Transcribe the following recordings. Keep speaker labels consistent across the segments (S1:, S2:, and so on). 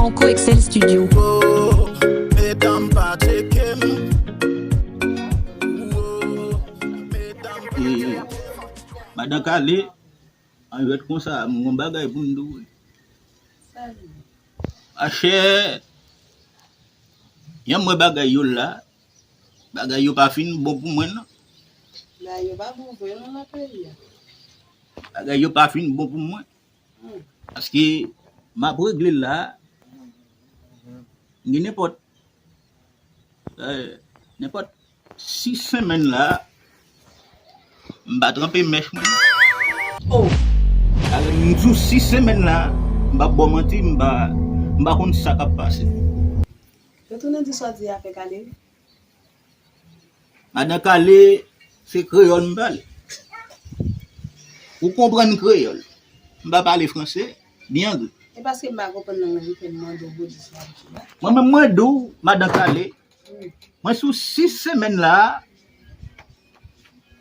S1: Franco Excel Studio. Oh,
S2: mesdames pas checker
S3: Madan Kale, an jwèt konsa, mwen gon bagay pou m dou. Achè, yon mwen bagay yo la, bagay yo pa fin bon pou mwen nan. Bagay yo pa fin bon pou mwen. Paske map regle la gen nenpòt nenpòt 6 semenn la m pa tranpe mèch mwen sou 6 semenn la m pap baw manti m pa konn sa kap pase.
S4: Retounen di sa w di a fè kale wi
S3: Madan kale se kreyòl m pale ou konprann kreyòl m pa pale franse ni angle
S4: mwen menm mwen di
S3: w madan kale mwen sou 6 semèn la a.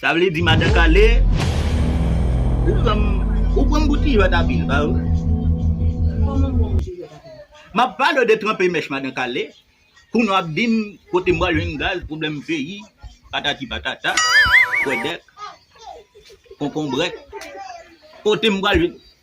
S4: Sa
S3: vle di madan kale Ou pranm Ou pranm pou ti jwèt apil ba ou Komanm
S4: pranm pou ti jwèt apil Map pale w de
S3: tranpe mèch madan kale Kounye w ap dim kote m pral jwenn gaz pwoblèm peyi patati patata kwèdèk konkonbrèk kote m pral jwenn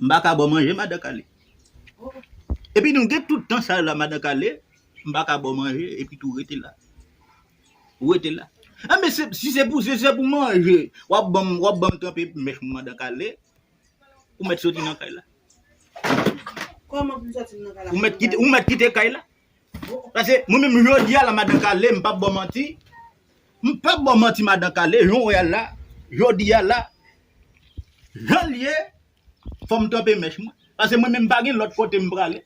S4: M pa ka baw manje
S3: madan kale Epi nou gen tout tan sa yo la madan kale M pa ka baw manje epi tou rete la Ou rete la A men se si se pou se se pou manje w ap banm w ap banm tranpe mèch mwen madan kale Ou mèt soti nan kay la
S4: Ou mèt kite kay la.
S3: Pase mwen menm jodi a la madan kale m pap baw manti m pap baw manti madan kale jan w wè a la jodi a la jan l ye fò m kanpe mèch mwen pase mwen menm m pa gen lòt kote m prale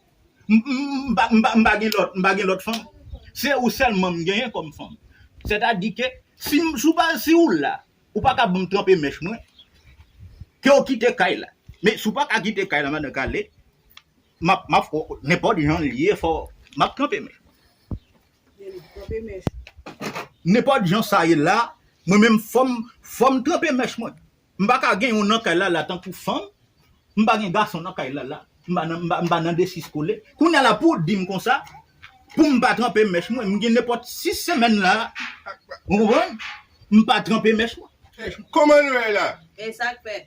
S3: m pa m pa gen lòt m pa gen lòt fanm se ou sèlman m genyen kòm fanm sètadi ke si m si w pa si w la ou pa ka banm tranpe mèch mwen ke w kite kay la men si w pa ka kite kay la madan kale. Map map fò nenpòt jan l ye fò map kanpe men. Ye map kanpe mèch. Nenpòt jan sa ye la mwen menm fòm fòm tranpe mèch mwen m pa ka gen yon nan kay la la tankou fanm m pa gen gason nan kay la la m pa nan m pa nan de sis kole kounya la pou w di m konsa pou m pa tranpe mèch mwen m gen nenpòt sis semèn la ou konprann m pa tranpe mèch mwen. Kòman nou ye
S5: la? Esak fè?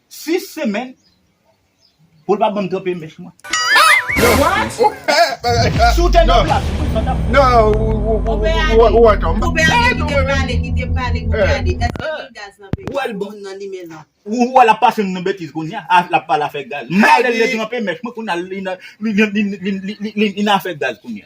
S3: 6 semèn pou l pa banm tranpe mèch mwen. Si w te nan plas mwen, sa tap fèt.
S5: Ou
S3: wè lap pase m nan betiz kounya a lap pale afè gaz. Mwen ale li tranpe mèch mwen kounya li nan afè gaz kounya.